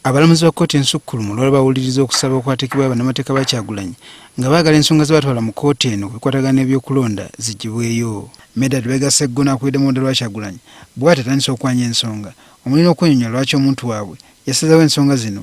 Abalamuzi ba kkooti ensukkulumu lwali bawuliriza okusaba okwateekebwa bannamateeka ba Kyagulanyi nga baagala ensonga ze batwala mu kkooti eno ku bikwatagana n'ebyokulonda ziggyibweyo. Medard Lubega Sseggona akulidde mu ludda lwa Kyagulanyi bw'ati atandise okwanya ensonga omuli n'okwenyonyola lwaki omuntu waabwe yasazeewo ensonga zino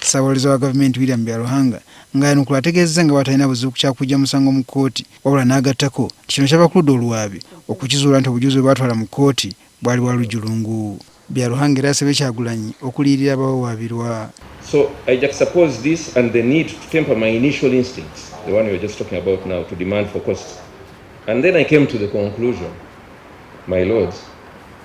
Ssabawolereza wa gavumenti William Byaruhanga ng'ayanukula ategeezezza nga bw'atalina buzibu ku kyakujja musango mu kkooti wabula n'agattako nti kino kyava ku ludda oluwaabi okukizuula nti obujulizi bwe baatwala mu kkooti bwali bwa lujjulungu. Byaruhanga era asabye Kyagulanyi okuliyirira abawawaabirwa. So I juxtapose this and the need to temper my initial instincts, the one we were just talking about now, to demand for costs. And then I came to the conclusion, my lords,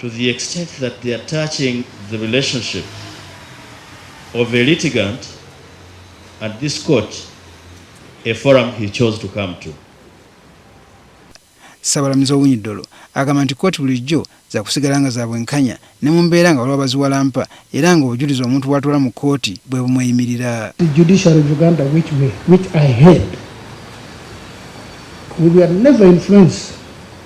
to the extent that they are touching the relationship of a litigant at this court, a forum he chose to come to. Sabalamuzi Owinidolo agamba nti kkooti bulijjo za kusigala nga za bwenkanya ne mu mbeera nga waliwo baziwalampa era nga obujulizi omuntu bw'atwala mu kkooti bwe bumweyimirira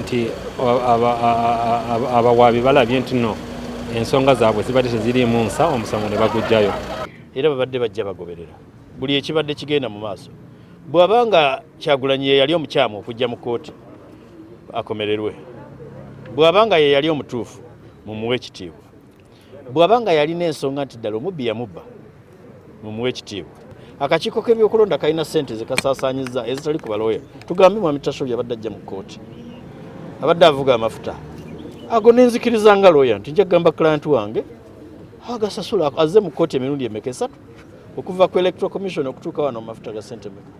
nti abawaabi balabye nti no ensonga zaabwe zibadde teziriimu nsa omusango ne bagujjayo era babadde bajja bagoberera buli ekibadde kigenda mu maaso bw'aba nga kyagulanyi yeyali omukyamu okujja mu kkooti akomererwe bw'aba nga yeyali omutuufu mumuwe ekitiibwa bwaba nga yalina ensonga nti ddala omubbi yamubba mumuwa ekitiibwa akakiiko k'ebyokulonda kalina sente zekasaasanyizza ezitali ku balooya tugambe mwami tashobi abadde ajja mu kkooti abadde avuga amafuta ago nenzikiriza nga looya nti nja kugamba client wange agasasula azze mu kkooti emirundi emeka esatu okuva ku electoral commission okutuuka wano mu mafuta ga sente meka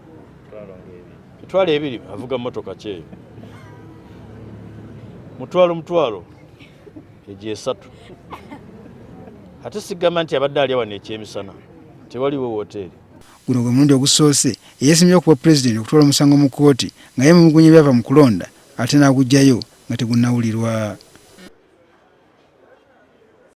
mitwalo ebiri avuga motoka kyeyo mutwalo mutwalo egyo esatu ate sigamba nti abadde alya wano ekyemisana tewaliwo woteeri guno gwe mulundi ogusoose eyesimye okuba pulezidenti okutwala omusango mu kkooti nga yemugunya ebyava mu kulonda ate n'agugyayo nga tegunnawulirwa